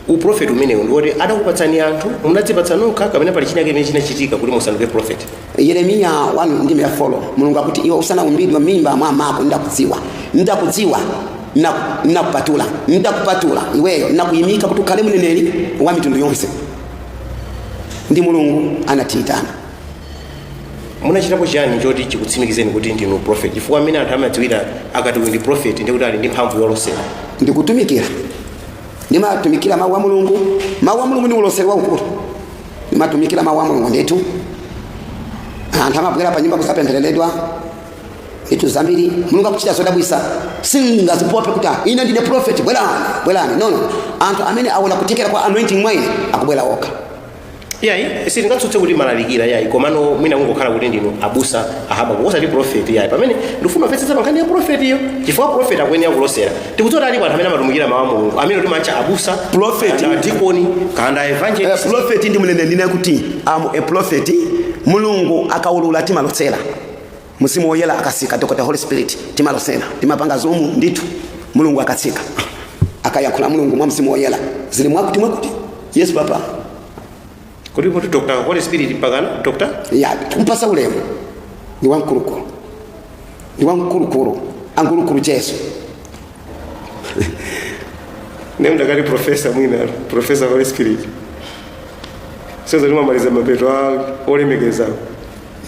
uprofeti umenewu ndi woti adakupatsani anthu munadzipatsa nokha kapena pali china chimene chinachitika kuti musanduke profeti yeremiya 1 ndime ya 4 mulungu akuti iwe usanaumbidwe mimba mwa mako ndakudziwa ndakudziwa na- nakupatula ndakupatula iweyo ndakuyimika kuti ukhale mneneri wa mitundu yonse ndi mulungu anatiyitana munachitapo chiyani choti chikutsimikizeni kuti ndinu prophet chifukwa amene anthu amadziwira akati uyu ndi prophet ndi kuti ali ndi mphamvu yolosera ndikutumikira ndimatumikira mawu a mulungu mawu a mulungu ndi uloseri waukulu ndimatumikira mawu a mulungu ndithu anthu amabwera pa nyumba kudzapemphereredwa ndithu zambiri mulungu akuchita zodabwisa sindingadzipope kuti "Ah, ine ndine prophet bwerani bwerani no no anthu amene aona kuthekera kwa anointing mwa ine akubwera okha yayi sitingatsutse kuti mumalalikira yayi komano mwina kungokhala kuti ndinu abusa a Habakuku osati profeti yayi pamene ndifuna kumvetsetsa pa nkhani ya profetiyo chifukwa profeti akuyenera kulosera tikudziwa kuti alipo anthu amene amatumikira mawu a mulungu amene timatcha abusa Prophet. kapena dikoni kapena Eh, evangelist prophet ndi mneneri ndine kuti I'm a prophet mulungu akaulula timalosera Mzimu Woyera akatsika, Dr Holy Spirit, timalosera timapanga zoom ndithu. Mulungu akatsika akayankhula Mulungu mwa Mzimu Woyera zili mwakuti mwakuti. Yes papa. Kodi kuti Dr Holy Spirit mpakana Dr. Ya kumpatsa ulemu ni wamkulukulu ni wamkulukulu angulukulu Yesu. Naye ndikati profesa mwina profesa Holy Spirit. Sasa ndimamaliza mapeto olemekeza.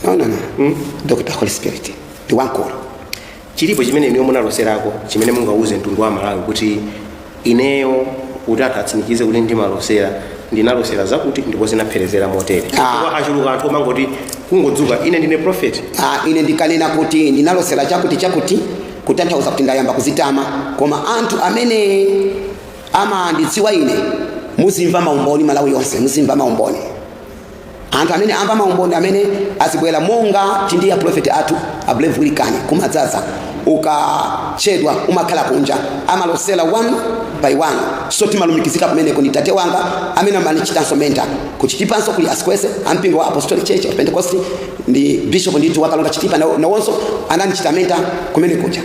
no no no mm? dr holy spirit ndi wamkulu chilipo chimene inuyo munaloserako chimene mungauze mtundu wa malawi kuti ineyo kuti anthu atsimikize kuti ndimalosera ndinalosera zakuti ndipo zinapherezera motere Ah. Chifukwa achuluka anthu omangoti kungodzuka ine ndine prophet Ah, ine ndikanena kuti ndinalosera chakuti chakuti kutanthauza kuti ndayamba kudzitama koma anthu amene amandidziwa ine muzimva maumboni malawi yonse muzimva maumboni anthu amene amva maumboni amene azibwera monga tili ndi a profeti athu ablevu wilikani kumadzadza ukachedwa umakhala kunja amalosera one by one so timalumikizika kumeneko ndi tate wanga amene amanichitanso menta kuchitipanso kuli a Sikwese ampingo wa apostolic church of pentecost ndi bishop ndithu wakalonga chitipa nawo- nawonso ananichita menta kumenekuja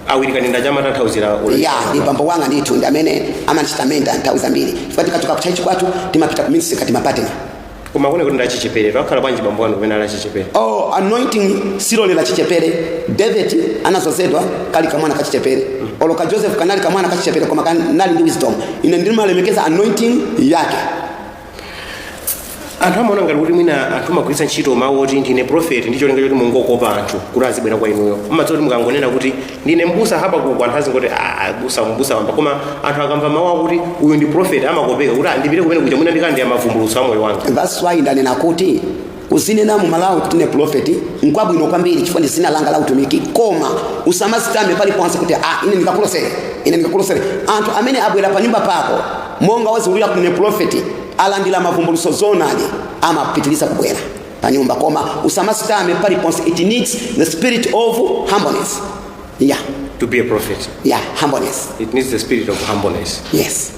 awiri kanenda chamatanthauzira yah ndi bambo wanga ndithu ndi amene amanichita mentor nthawi zambiri chifukwa tikachoka kutchalitchi kwathu timapita ku ministry timapatana koma kune kuti ndachichepere pakhala bwanji bambo wanu kumene ali wachichepere oh, anointing silolera chichepere david anazozedwa ali kamwana kachichepere olo ka joseph kanali kamwana kachichepere koma kanali ndi wisdom ine ndimalemekeza anointing yake anthu amaona ngati kuti mwina anthu amagwiritsa ntchito mawu oti ndine profeti ndi cholinga choti mungokopa anthu kuti azibwera kwa inuyo mumadziwa kuti mukangonena kuti ndine mbusa habakuku anthu azingoti "Ah, mbusa mbusa wamba koma anthu akamva mawu akuti uyu ndi profeti amakopeka kuti "Ah, ndipite kumene kuja mwina ndikamve mavumbulutso a moyo wanga That's why ndanena kuti Kuzinena mu Malawi kuti ndine prophet nkwabwino kwambiri chifukwa ndi dzina langa la utumiki koma usamazitame pali ponse kuti ah ine ndikakulosere ine ndikakulosere anthu amene abwera pa nyumba pako monga waziwulula kuti ndine prophet alandira mavumbuluso zonali amapitiriza kubwera pa nyumba koma usamazitame pali ponse it needs the spirit of humbleness yeah To be a prophet, yeah humbleness it needs the spirit of humbleness. yes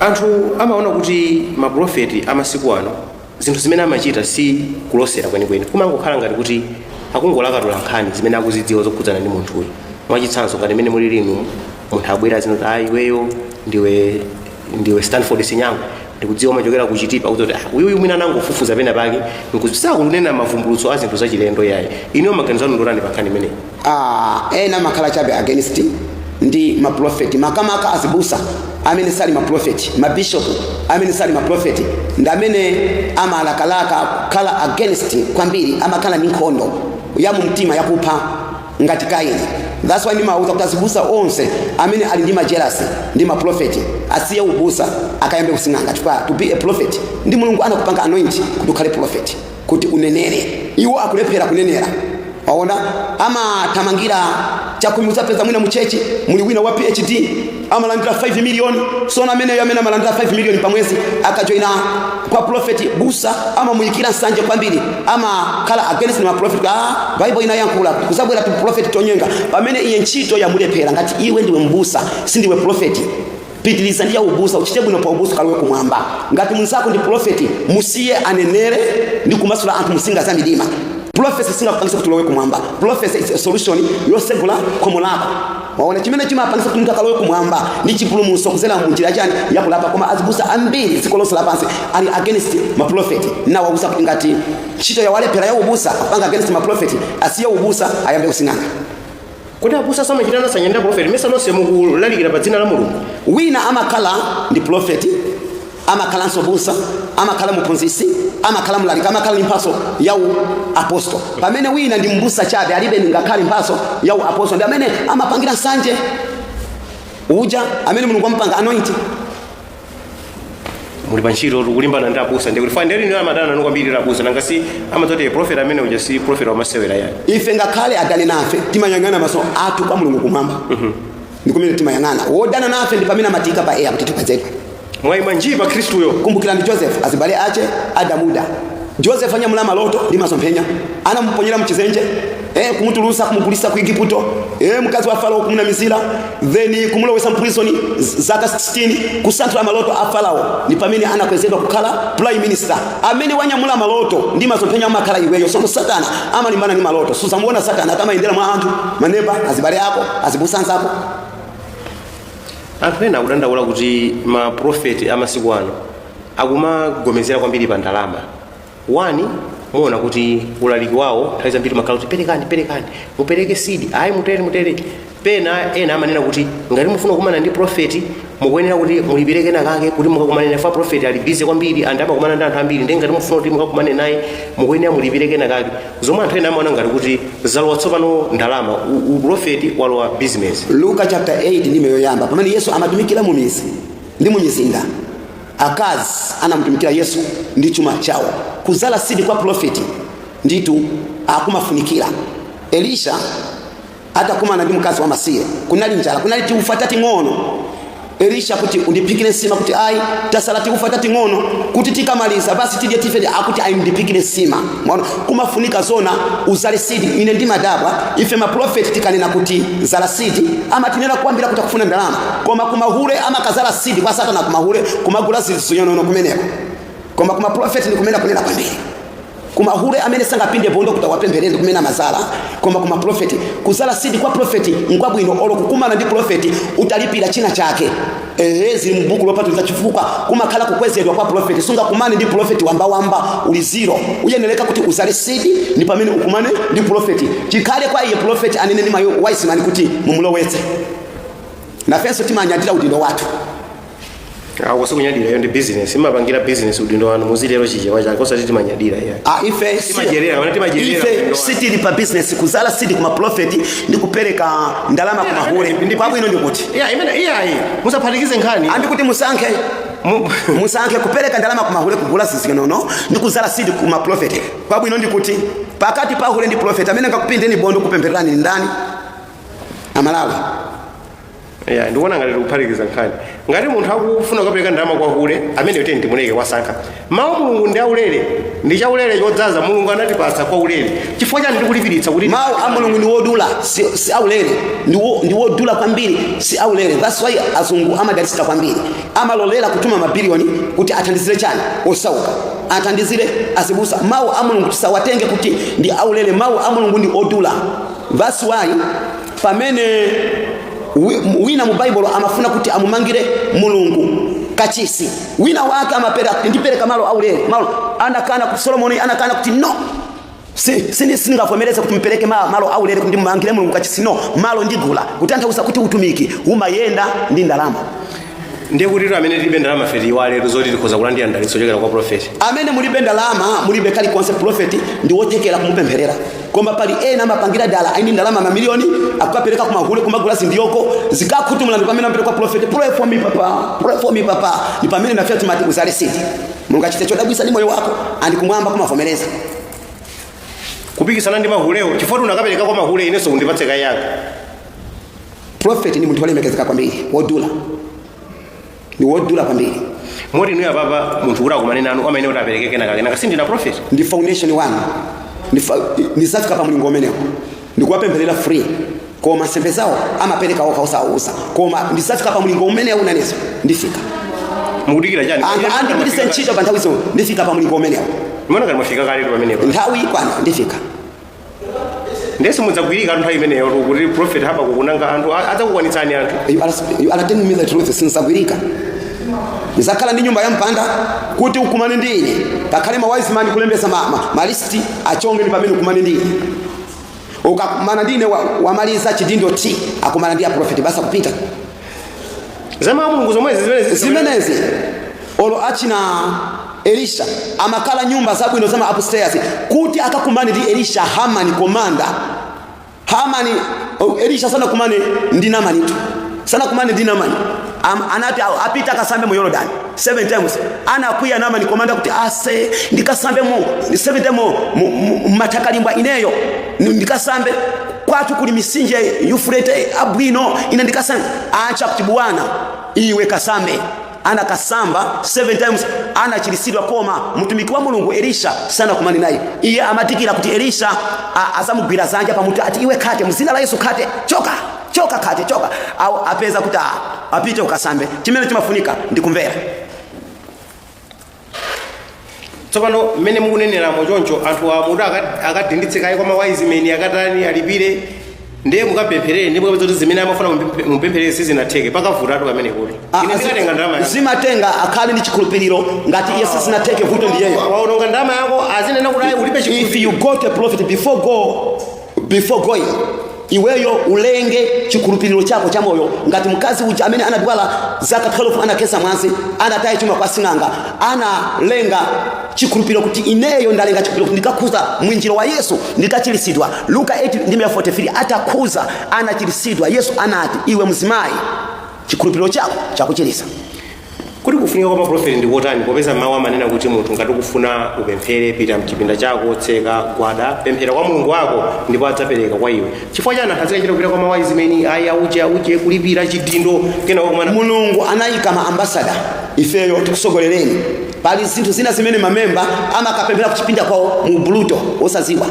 anthu amaona kuti mapulofeti amasiku ano zinthu zimene amachita si kulosera kwenikweni kumangokhala ngati kuti akungolakatula nkhani zimene akuzidziwa zokhudzana ndi munthuyo mwachitsanzo ngati imene mulili inu munthu abwere azinena kuti ayi iweyo ndiwe ndiwe stanford sinyango ndikudziwa umachokera kuchitipa kuti ah uyuyu mwina anangofufuza pena pake osati kunena mavumbulutso a zinthu zachilendo yayi inuyo maganizo anu ndi otani pa nkhani imeneyi Ah, ena amakhala chabe against ndi maprofeti makamaka azibusa amene sali maprofeti mabishop amene sali maprofeti ndi amene amalakalaka kukhala against kwambiri amakhala ndi nkhondo ya mumtima yakupha ngati kaini that's why ndimawuza kuti azibusa onse amene ali ndi majerasi ndi maprofeti asiye ubusa akayambe kusing'anga chifukwa to be a prophet ndi mulungu anakupanga anoint kuti ukhale profeti kuti unenere. Iwo akulephera kunenera. Waona, amathamangira chakhumi. Udzapeza mwina muchechi muli wina wa PhD amalandira 5 miliyoni sono ameneyo amene amalandira 5 miliyoni pa mwezi akajoina kwa profeti busa amamuyikira nsanje kwambiri amakhala against ma profeti ah bible inayankhula kuzabwera tu profeti tonyenga pamene iye ntchito yamulephera ngati iwe ndiwe mbusa sindiwe profeti pitiliza ndi ya ubusa uchite bwino pa ubusa kalowe kumwamba ngati mnzako ndi profeti musiye anenere ndi kumasula anthu musinga za midima profesi singakupangise kuti ulowe kumwamba profesi is a solution yosegula khomo lako waona chimene chimapangisa kuti munthu akalowe kumwamba ndi chipulumutso kuzera mu njira chani yakulapa koma azibusa ambiri dziko lonse lapansi ali against maprofeti nawauza kuti ngati ntchito yawalephera yaubusa apanga against maprofeti asiye ubusa ayambe kusing'anga kodi abusa samachita nsanje ndi aprofeti ndimayesa nonse mukulalikira pa dzina la mulungu wina amakhala ndi profeti amakhalanso mbusa amakhala muphunzisi amakhala mlaliki amakhala ndi mphaso ya u apostol pamene wina ndi mbusa chabe alibe ngakhale mphaso ya u apostol ndi amene amapangira nsanje uja amene mulungu wamupanga anoint muli pantchito tikulimbana ndi abusa ndikuti fani ndilino amadana nanu kwambiri ndi abusa nanga si amadziti profeti amene uja si profeti wamasewera yani ife ngakhale adane nafe timayang'ana maso athu kwa mulungu kumwamba ndi kumene timayang'ana wodana nafe ndi pamene amatiika pa air kuti tikwezedwe mwaima njii pa khristuyo kumbukirani joseph azibale ache adamuda joseph anyamula maloto ndi masomphenya anamuponyera mchidzenje eh, kumutulusa kumugulisa ku igiputo eh, mkazi wa farao kumunamizira then kumulowesa mprison zaka 16 kusanthula maloto a farao ni pamene anakwezedwa kukhala prime minister amene wanyamula maloto ndi masomphenya amakhala iweyo so satana amalimbana ndi maloto suzamuona satana akamayenda mwa anthu maneba azibale ako azibusanza ako anthu ena akudandaula kuti maprofeti amasiku ano akumagomezera kwambiri pa ndalama wani muona kuti ulaliki wawo nthawi zambiri umakhala kuti perekani perekani mupereke seed ayi mutere mutere pena ena amanena kuti ngati mufuna kukumana ndi profeti mukuyenera kuti mulipire kenakake kuti mukakumane naye fa profeti ali busy kwambiri and amakumana ndi anthu ambiri ndi ngati mufuna kuti mukakumane naye mukuyenera mulipire kenakake zomwe anthu ena amaona ngati kuti zalowa tsopano ndalama u- uprofeti walowa business luka chapter 8 ndime yoyamba pamene yesu amatumikira mu midzi ndi mu mizinda Akazi anamutumikira Yesu ndi chuma chawo. Kuzala seed kwa pulofeti nditu akumafunikira. Elisha atakumana ndi mkazi wamasiye, kunali njala, kunali tiufa tating'ono. Elisha kuti undiphikire nsima, kuti ayi, tasala tiufa tating'ono kuti tikamaliza basi tidye tife. Akuti ayi, ndiphikire nsima. Mwaona, kumafunika zona uzale seed ine ndimadabwa ife maprofeti tikanena kuti zala seed amatinena kwambiri kuti akufuna ndalama koma kumahule amakazala seed kwa satana kumahule kumagula zizinonono kumeneko koma kumaprofeti ndi kumene akunena kwambiri kumahule amene sangapinde bondo kuti awapempherere ndi kumene amazala koma kumaprofeti kuzala seed kwa profeti nkwabwino olo kukumana ndi profeti utalipira china chake ehe zili mu buku lopatulika chifukwa kumakhala kukwezedwa kwa profeti sungakumane ndi profeti wambawamba uli zero uyenereka kuti uzale seed ndi pamene ukumane ndi profeti chikhale kwa iye profeti anene ndi mayo wise man kuti mumulowetse nafenso timanyadira udindo wathu awo sikunyadira iyo ndi business imapangira business udindo wanu muzilero chichewa chake osati timanyadira iya Ah, ife si- Timadyera, ana timadyerera ife udindo sitili pa business kuzala seed kumaprofeti ndi kupereka ndalama kumahule kwabwino ndikuti iya imene iyayi musaphatikize nkhani and kuti musankhe Mu- musankhe kupereka ndalama kumahule kugula zizinono ndi kuzala sidi ku maprofeti kwabwino ndi kuti pakati pa hule ndi profeti amene ngakupindeni bondo kupemphererani ndi ndani aMalawi iya ndikuona ngati tikuphatikiza nkhani ngati munthu akufuna kukapereka ndalama kwa hule ameneyotu ndimuleke wasankha Mawu a Mulungu ndi aulere, ndi chaulere chodzaza. Mulungu anatipatsa kwa ulere. Chifukwa chani mukulipiritsa kuti mawu a mulungu ndi wodula si, si aulere ndi wo- ndi wodula kwambiri si aulere that's why azungu amadalitsika kwambiri amalolera kutuma mabiliyoni kuti athandizire chani osauka athandizire azibusa mawu a mulungu tisawatenge kuti ndi aulere mawu a mulungu ndi odula that's why pamene Wi- wina mu baibulo amafuna kuti amumangire mulungu kachisi wina wake amapereka kuti ndipereka malo aulere, anakana kuti solomoni anakana kuti no Si- sini- sindingavomereze kuti mupereke ma- malo aulere kuti ndimumangire mulungu kachisi no malo ndigula kutanthauza kuti utumiki umayenda ndi ndalama ndiye kuti amene tilibe ndalama fe tiyiwaletu zoti tikhoza kulandira mdalitso ochokera kwa profeti amene mulibe ndalama mulibe kalikonse profeti ndi wothekera kumupempherera koma pali ena amapangira dala aini ndalama mamiliyoni akukapereka kumahule kumagula zidyoko zikakhutu mlandu pamene akapita kwa profeti pray for me papa pray for me papa ni pamene nafe timati uzale sidi mulungu achite chodabwisa m'moyo wako and kumwamba kumavomereza kupikisana ndi mahulewo chifukwa unakapereka kwa mahule inenso undipatse kaye yanga prophet ni munthu olemekezeka kwambiri wodula ni wodula kwambiri moti inuyo apapa munthu kuti akumane nanu amene kuti apereke kenakake sindinu prophet ndi foundation wanu Ndi fa- nizafika pa mlingo umenewo ndikuwapempherera free koma nsembe zawo amapereka okha osawauza koma ndizafika pa mlingo umenewo unaneza ndifika mukudikira chani anthu andipitise ntchito pa nthawi zonse ndifika pa mlingo umenewo mwina ngati mwafika kaletu pamenepo nthawi ikwana ndifika ndiye simudzagwirika tu nthawi imeneyotu kuti prophet habakuku nanga anthu a- adzakukwanitsani anthu You are, you are telling me the truth sinzagwirika ndizakhala ndi nyumba ya mpanda kuti ukumane ndi ine pakhale ma wise man kulembesa ma, ma, ma list achongeni pamene ukumane ndi ine ukakumana ndi ine wa- wamaliza chidindo ti akumana ndi a prophet basi akupita za mawu a mulungu zomwezi zimenezi zimenezi olo achina elisha amakhala nyumba zabwino za ma upstairs kuti akakumane ndi elisha Namani komanda Namani oh, elisha sanakumane ndi namanitu sanakumane ndi namani Am, anati apite akasambe mu Yorodani 7 times anakwiya namani komanda kuti ase ndikasambe mu 7 times mu matakalimba ineyo ndikasambe kwatu kuli misinje yufurete abwino ine ndikasambe adza kuti bwana iwe kasambe anakasamba 7 times anachirisidwa koma mtumiki wa mulungu elisha sanakumane naye iye amadikira kuti elisha azamugwira dzanja pamutu ati iwe khate mzina la yesu khate choka khate choka khate choka Au, apeza kuti a- apite ukasambe chimene chimafunika ndi kumvera tsopano mmene mukuneneramo choncho anthu amati akadinditse kaye kwa mawayizimeni akatani alipire ndiye mukapempherere ndipo kupeza kuti zimene amafuna mupemphe- mupempherere sizinatheke pakavutatu pamene kuti Ah, ine ndikatenga ndalama yanga. zimatenga akhale ndi chikhulupiriro ngati iye sizinateke vuto ndiyeyo waononga ndalama yako azinena kuti ayi ulibe chikhulupiriro if you go to a prophet before go before going iweyo ulenge chikhulupiriro chako cha moyo ngati mkazi uja amene anadwala zaka 12 anakhetsa mwazi anataye chuma kwa sing'anga analenga chikhulupiriro kuti ineyo ndalenga chikhulupiriro kuti ndikakhuza mwinjiro wa yesu ndikachiritsidwa luka 8 43 atakhuza anachiritsidwa yesu anati iwe mzimayi chikhulupiriro chako chakuchiritsa Kodi kufunika kwa maprofeti ndi kotani popeza mawu amanena kuti munthu ngati ukufuna upemphere pita mchipinda chako tseka gwada pemphera kwa mulungu wako ndipo adzapereka kwa iwe chifukwa chani akazikachita kupita kwa mawayizimeni ayi auche auche kulipira chidindo kena wakumana mulungu anayika ma ambasada ifeyo tikusogolereni pali zinthu zina zimene mamemba amakapemphera kuchipinda kwawo mu buluto osaziwa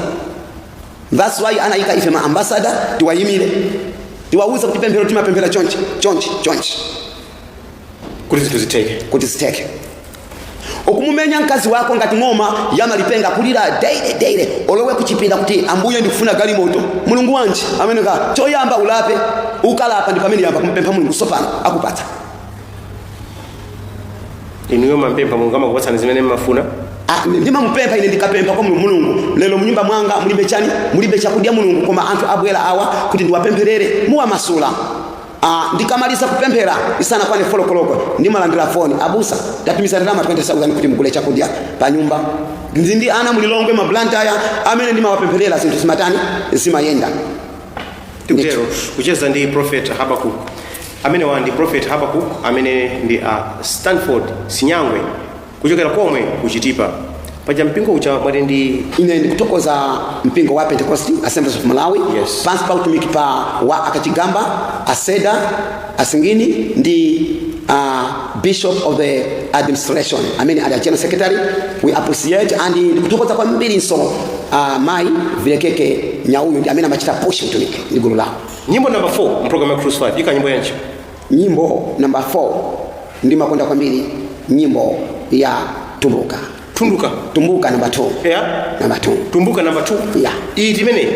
that's why anayika ife ma ambasada tiwayimire tiwawuze kuti pemphero timapemphera chonchi chonchi chonchi kuti zinthu zitheke kuti zitheke okumumenya mkazi wako ngati ng'oma yamalipenga kulira daily daily olowe kuchipinda kuti ambuye ndikufuna galimoto mulungu wanji amene ka choyamba ulape ukalapa ndi pamene uyamba kumpempha mulungu sopano akupatsa inuyo mampempha mulungu amakupatsani zimene mmafuna Ah, ndimamupempha ine ndikapempha kwa mulungu mulungu lero mnyumba mwanga mulibe chani mulibe chakudya mulungu koma anthu abwera awa kuti ndiwapempherere muwamasula Ah, ndikamaliza kupemphera isanakwane folokoloko ndimalandira foni abusa ndatumiza ndalama 20000 kuti mugule chakudya pa nyumba ndili ndi ana mulilongwe mablantaya amene ndimawapempherera zinthu zimatani zimayenda tikutero kucheza ndi prophet habakuk amenewa ndi prophet habakuk amene ndi a stanford sinyangwe kuchokera komwe ku Chitipa. Paja mpingo uja mwati ndi ine ndikuthokoza mpingo wa pentecost assemblies of malawi Yes. pansi pa utumiki pa wa akachigamba aseda asingini ndi uh, bishop of the administration amene ali a general secretary we appreciate and ndikuthokoza kwambirinso uh, mayi vilekeke nyauyu ndi amene amachita push utumiki ndi gulu lawo nyimbo number 4 mu program ya Cruise 5 ika nyimbo yanji? Nyimbo number 4 ndimakonda kwambiri nyimbo ya tumbuka Tumbuka. tumbuka number 2 Yeah. number 2 Tumbuka number 2. Yeah. Iyi ndi imene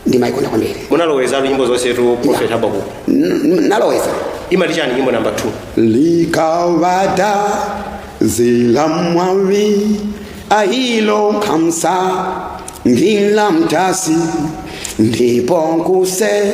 ndimayikonda kwambiri munalowezatu nyimbo zonsetu Prophet Habakkuk. N- n- naloweza Imati chani nyimbo number 2. likawata zila mwawi ahilo kamsa njila mtasi ndipo kuse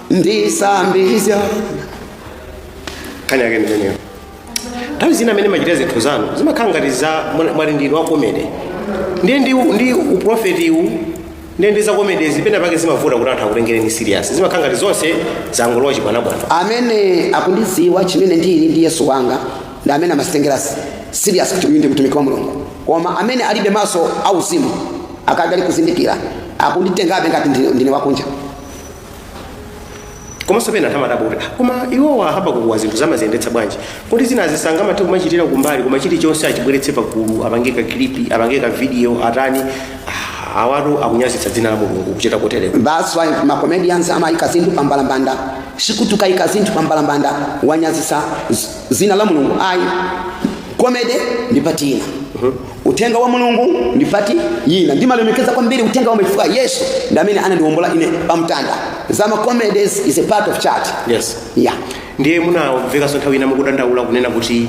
ndisambisa nkhani yake ndimeneyo nthawi zina mmene mumachitira zinthu zanu zimakhala ngati za mwa- mwali ndinu wa komede ndiye ndi, ndi uprofetiwu ndiye ndi za komedezi pena pake zimavuta kuti anthu akutengereni serious zimakhala ngati zonse zangolowa chibwanabwana amene akundidziwa chimene ndili ndi yesu wanga ndi amene amazitengera serious kuti uyu ndi mtumiki wa mulungu koma amene alibe maso auzimu akadali kuzindikira akunditengabe ngati ndine- ndine wakunja komanso pena timadabwa kuti koma iwowa habakukuwa zinthuzi amaziyendetsa bwanji kuti zinazi sangamathe kumachitira kumbali koma chilichonse achibweretse pagulu apange ka klipi apange ka video atani Ah, awatu akunyazitsa dzina la mulungu kuchita kotereko That's why ma comedians amayika zinthu pa mbalambanda. Sikuti ukayika zinthu pa mbalambanda wanyazitsa z- zina la Mulungu. Ayi. Comedy ndi part ina. Uthenga wa Mulungu ndi part ina. Ndimalemekeza kwambiri uthenga wa chifukwa Yesu ndi amene anandiwombola ine pamtanda. Zama comedies is a part of church. Yes. Yeah. Ndiye munamvekanso nthawi ina mukudandaula kunena kuti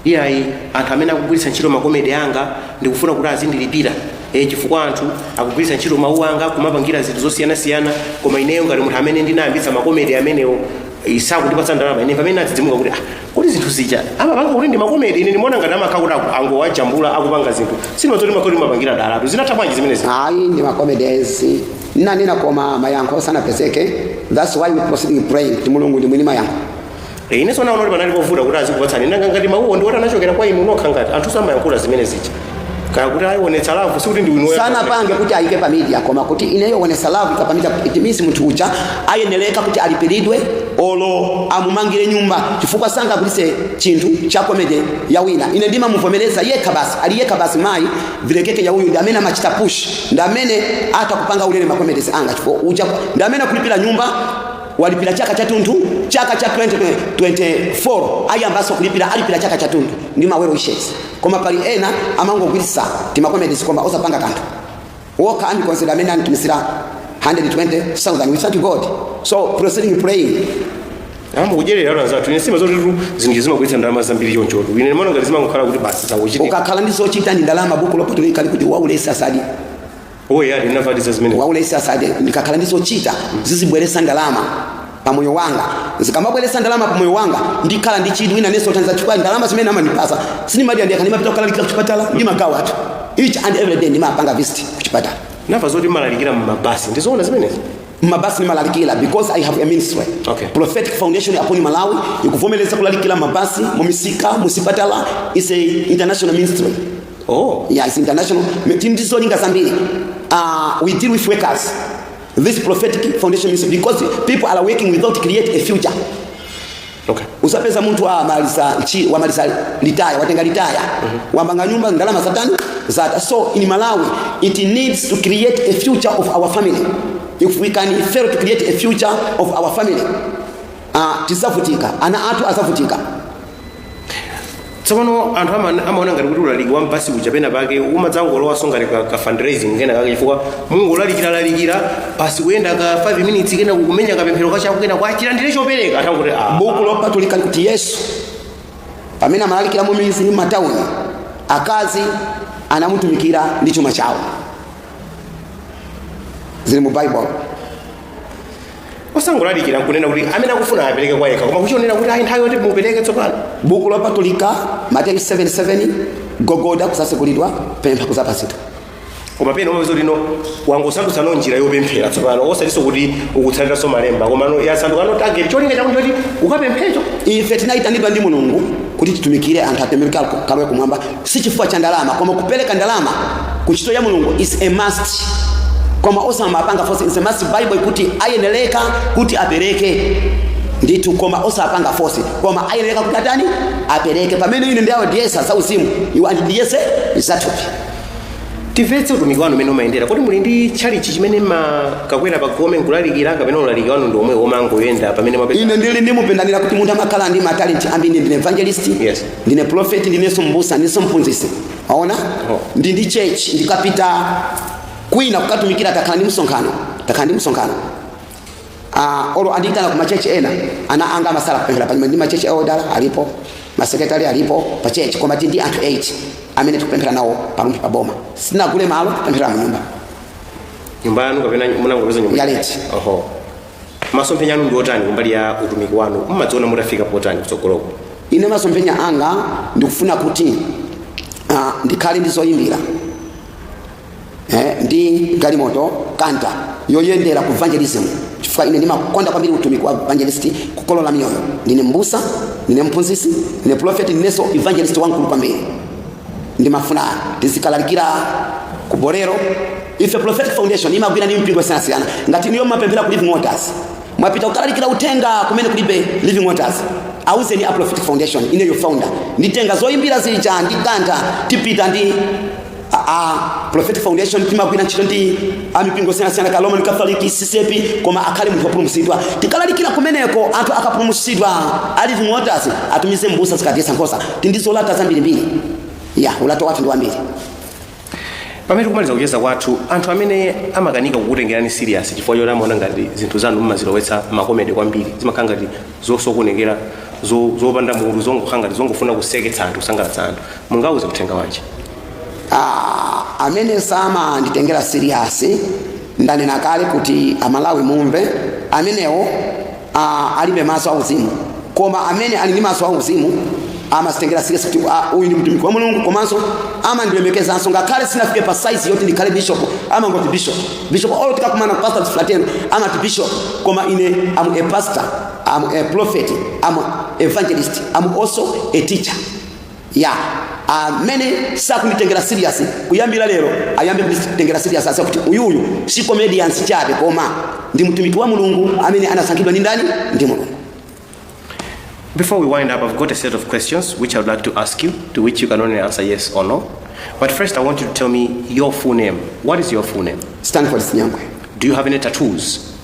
iyayi anthu amene akugwiritsa ntchito makomedi anga ndikufuna kuti azindilipira e, chifukwa anthu akugwiritsa ntchito mawu anga kumapangira zinthu zosiyanasiyana koma ineyo ngati munthu amene ndinayambitsa makomedi amenewo eh, sakundipatsa ndalama ine pamene nadzidzimuka kuti ah, kuti zinthu zija amapanga kuti ndi makomedi ine ndimaona ngati amakhala kuti aku- angowajambula akupanga zinthu sindimadziwa zoti makoti mapangira dolatu zinatha bwanji zimenezi ayi ndi makomedezi nanena koma mayankho sanapezeke thats why we proceeding praying kuti mulungu ndi mwini mayankho Eh, ine sinaone kuti panali povuta kuti azikupatsani nanga ngati mawuwo ndiwoti anachokera kwa inu nokha ngati anthu samayankhula zimene zija kaya kuti ayi wonetsa love sikuti ndi wino sanapange kuti ayike pa media koma kuti ineyo wonesa love pa media it means munthu uja ayeneleka kuti alipilidwe olo amumangire nyumba chifukwa sangagulise chinthu cha komede ya wina ine ndimamuvomereza yekha basi ali yekha basi mayi vilekeke ya uyu ndi amene amachita push ndi amene atha kupanga ulere makomedesi anga chifukwa uja ndi amene akulipira nyumba walipira chaka chatunthu chaka cha 2024 ayambanso kulipira alipira chaka chatunthu ndi ma well wishers koma pali ena amangogwiritsa timakomedisi koma osapanga kanthu wokha andi consider amene anditumizira 120,000 we thank god so proceeding praying ambo kudyerera anthu anzathu ine sindimadziwa zotitu zinthu zimabweretsa ndalama zambiri chonchotu ine ndimaona ngati zimangokhala kuti basi zangochitika ukakhala ndi zochita ndi ndalama buku lopatulika likuti waulesi asadye Oya ndinafatiza zimene. waulesi asadye ndikakhala ndi zochita zizibweresa ndalama pa moyo wanga zikamabweresa ndalama pa moyo wanga ndikhala ndi chidwi wina nenso thandiza chifukwa ndalama zimene amandipasa sindimadya ndekha ndimapita kukalalikira kuchipatala ndimagawa anthu each and every day ndimapanga visit kuchipatala Ndamva zoti mumalalikira mu mabasi. Ndizoona zimenezi. mabasi ndimalalikira because i have a ministry Okay. prophetic foundation upon malawi ikuvomereza kulalikira mabasi mumisika musipatala is a international ministry Oh, yeah, it's international. Tindizolinga zambiri. Uh, we deal with workers. This prophetic foundation means because people are working without create a future. Okay. Usapeza mtu wa malisa chi wa malisa litaya watenga litaya mm -hmm. wambanga nyumba ndalama za tani za so in Malawi it needs to create a future of our family if we can fail to create a future of our family uh, tisavutika ana atu asavutika tsopano anthu ama- amaona ngati kuti ulaliki wa m'basi uja pena pake umadzangolowanso ngati ka, ka fundraising kena kake chifukwa munthu ulalikira lalikira basi kuyenda ka 5 minutes kenako kumenya kapemphero kachako kenako achilandire chopereka atha kuti ah, buku lopatulika likuti yesu pamene amalalikira mu midzi ndi matauni akazi anamutumikira ndi chuma chawo zili mu bible osangolalikira nkunena kuti amene akufuna apereke kwa yekha koma kuchionera kuti ayi nthawi yoti mupereke tsopano buku lopatulika mateyu 7:7 gogoda kuzasekulidwa pempha kuzapatsidwa koma pena umapeza kuti no wangosandutsano njira yopemphera tsopano osatinso kuti ukutsatiranso malemba komano yasandukano target cholinga chakuti choti ukapemphecho ife tinayitanidwa ndi mulungu kuti titumikire anthu atembenuke akalowe kumwamba si chifukwa cha ndalama koma kupereka ndalama ku ntchito ya mulungu is a must koma osamapanga force is a must bible ikuti ayenereka kuti apereke ndithu koma osapanga force koma ayenereka kuti atani apereke pamene ine ndawadyetsa zauzimu iwo andidyetse zathupi timvetse utumiki wanu mmene umayendera kodi muli ndi tchalichi chimene mumakakwera pagome nkulalikira kapena ulaliki wanu ndi omwe womangoyenda pamene mwapeza ine ndili ndi mpingo ndanena kuti munthu amakhala ndi matalenti ambiri ndine evangelist Yes. ndine profeti ndinenso mbusa ndinenso mphunzitsi mwaona ndili ndi church ndikapita kwina kukatumikira takhala ndi msonkhano takhala ndi msonkhano uh, olo andiyitana ku machechi ena ana anga amatsala akupemphera panyuma ndi machechi elder alipo masekretari alipo pa chechi koma tili ndi anthu 8 amene tikupemphera nawo pa rumphi pa boma sinagule malo kupemphera mu nyumba nyumba yanu kapena munangopeza nyumba Ya renti. oho masomphenya anu ndi otani kumbali ya utumiki wanu mumadziona mutafika potani kutsogoloko ine masomphenya anga ndikufuna kuti ah, ndikhale ndi zoyimbira eh, ndi galimoto kanta yoyendera ku evangelism chifukwa ine ndimakonda kwambiri utumiki wa evangelist kukolola miyoyo ndine mbusa ndine mphunzitsi ndine profeti ndinenso evangelist wamkulu kwambiri ndimafuna tizikalalikira ku bolero ife prophetic foundation imagwira ndi mipingo yosiyanasiyana ngati inuyo mumapemphera ku living waters mwapita kukalalikira uthenga kumene kulibe living waters auzeni a prophetic foundation ineyo founder nditenga zoyimbira zija ndi kanta tipita ndi a, a prophetic foundation timagwira ntchito ndi amipingo yosiyanasiyana kaya roman catholic ccap koma akhale munthu wopulumutsidwa tikalalikira kumeneko anthu akapulumutsidwa a living waters atumize mbusa azikadyetsa nkhosa Tili ndi zolata zambirimbiri. Ya, ulato wathu ndi wambiri. pamene tikumaliza kucheza kwathu anthu amene amakanika kukutengerani serious chifukwa choti amaona ngati zinthu zanu mumazilowetsa makomedi kwambiri zimakhala ngati zosokonekera zo- zopanda mutu zongokhala ngati zongofuna kuseketsa anthu kusangalatsa anthu mungauze uthenga wanji Ah, amene samanditengera serious ndanena kale kuti amalawi mumve amenewo uh, alibe maso auzimu koma amene ali ndi maso auzimu amanditengera serious kuti ah, uyu ndi mtumiki wa mulungu komanso amandilemekezanso ngakhale sinafike pa size yoti ndikhale bishop amangoti bishop bishop olo tikakumana pastors fraternal amati bishop koma ine am a pastor am a prophet am evangelist am also a teacher ya amene sakunditengera serious kuyambira lero ayambe kunditengera serious asa kuti uyu uyu si comedian chabe koma ndi mtumiki wa mulungu amene anasankhidwa ndi ndani ndi mulungu Before we wind up, I've got a set of questions which I'd like to ask you, to which you can only answer yes or no. But first, I want you to tell me your full name. What is your full name? Stanford Sinyangwe Do you have any tattoos?